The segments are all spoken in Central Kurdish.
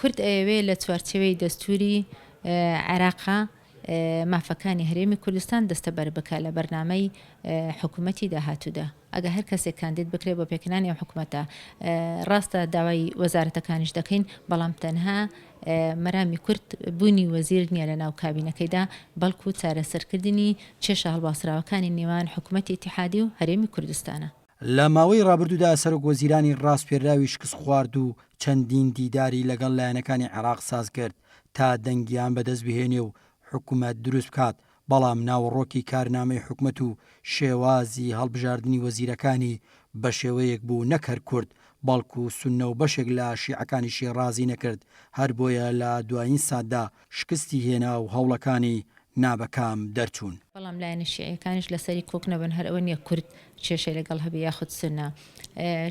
کورد ئەیەوێ لە چوارچێوەی دەستووری عێراق مافەکانی هەرێمی کوردستان دەستەبەر بکا لە بەرنامەی حکوومەتی داهاتوودا. ئەگە هەر کەسێک کاندید بکرێ بۆ پێکهێنانی ئەو حکوومەتە، ڕاستە داوای وەزارەتەکانیش دەکەین، بەڵام تەنها مەرامی کورد بوونی وەزیر نییە لەناو کابینەکەیدا، بەڵکوو چارەسەرکردنی کێشە هەڵواسراوەکانی نێوان حکوومەتی ئیتیحادی و هەرێمی کوردستانە. لە ماوەی ڕابردوودا سەرۆک وەزیرانی ڕاسپێرراوی شکستخواردوو چەندین دیداری لەگەڵ لایەنەکانی عێراق سازکرد تا دەنگیان بەدەستبهێنێ و حکومەت دروستبکات، بەڵام ناوەڕۆکی کارنامەی حکومەت و شێوازی هەڵبژاردنی وەزیرەکانی بەشێوەیەک بوو نەک هەر کورد بەڵکو سوننە و بەشێک لە شیعەکانیشی ڕازی نەکرد، هەربۆیە لە دوایین ساتدا شکستی هێنا و هەوڵەکانی نا بە کام دەرچوون. بەڵام لایەنە شیعیەکانیش لەسەری کۆک نەبن، هەر ئەوە نیە کورد کێشەی لەگەڵ هەبێ یاخود سوننە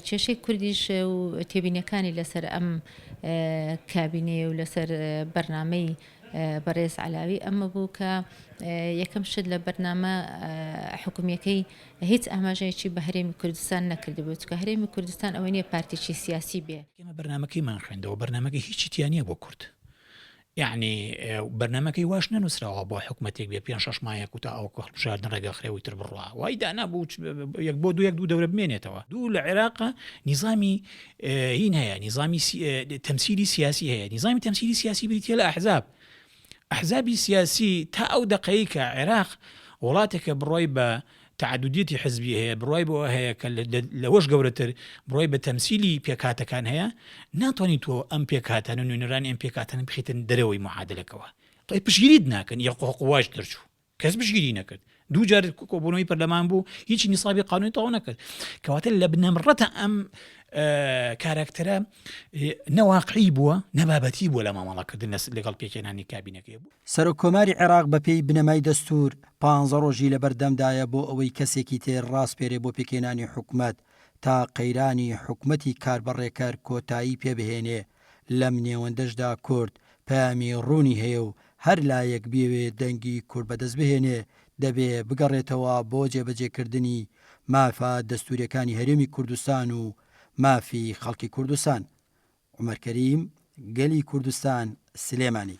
کێشەی کوردیش و تێبینیەکانی لەسەر ئەم کابینەیە و لەسەر بەرنامەی بەڕێز عەلاوی ئەمە بوو کە یەکەم شت لە بەرنامە حکومیەکەی هیچ ئاماژەیەکی بە هەرێمی کوردستان نەکردبوو چکە هەرێمی کوردستان ئەوە نیە پارتێکی سیاسی بێ ئێمە بەرنامەکەیمان خوێندەوە بەرنامەکە هیچی تیانە بۆ کورد یەعنی بەرنامەکەی واش نەنووسراوە بۆ حکوومەتێک بێ پێ شش مایە کوتا ئەو هەڵبژاردن ڕێگەخرێەوەی تر بڕە وای دانا بوو یەک بۆ دو یەک دوو دەورە بمێنێتەوە دوو لە عێراق نیزامی هین هەیە نیزامی تەمسیری سیاسی هەیە نیزامی تەمسیری سیاسی بریتە لە ئەحزاب ئەحزابی سیاسی تا ئەو دقەیە عێراق وڵاتێکە بڕۆی بە تەعەدودیەتی حزبی هەیە، بڕوای بەوە هەیە کە لەوەش گەورەتر بڕوای بە تەمسیلی پێکهاتەکان هەیە، ناتوانی تۆ ئەم پێکهاتانە نوێنەرانی ئەم پێکهاتانە بخیتە دەرەوەی معادلەکەوە، ڵێ پشگیریت ناکەن یەک قۆ قواج دەرچوو کەس پشگیری نەکرد دوو جار کۆبوونەوەی پەرلەمان بوو هیچی نیسابی قانونی تەواو نەکرد کەواتە لە بنەمڕەتە ئەم کاراکتەرە نەواقعی بووە نەبابەتی بووە لە مامەڵەکردن لە لەگەڵ پێکێنانی کابینەکەی بوو سەرۆک کۆماری عێراق بە پێی بنەمای دەستور پانزە ڕۆژی لەبەردەمدایە بۆ ئەوەی کەسێکی تر ڕاسپێرێ بۆ پێکێنانی حکومەت تا قەیرانی حکومەتی کاربەڕێکەر کۆتایی پێ بهێنێ لەم نێوەندەشدا کورد پەیامی ڕوونی هەیە و هەر لایەک بیەوێ دەنگی کورد بەدەست بهێنێ دەبێ بگەڕێتەوە بۆ جێبەجێکردنی مافە دەستوریەکانی هەرێمی کوردستان و مافی خەڵکی کوردستان، عومەر کەریم، گەلی کوردستان، سلێمانی.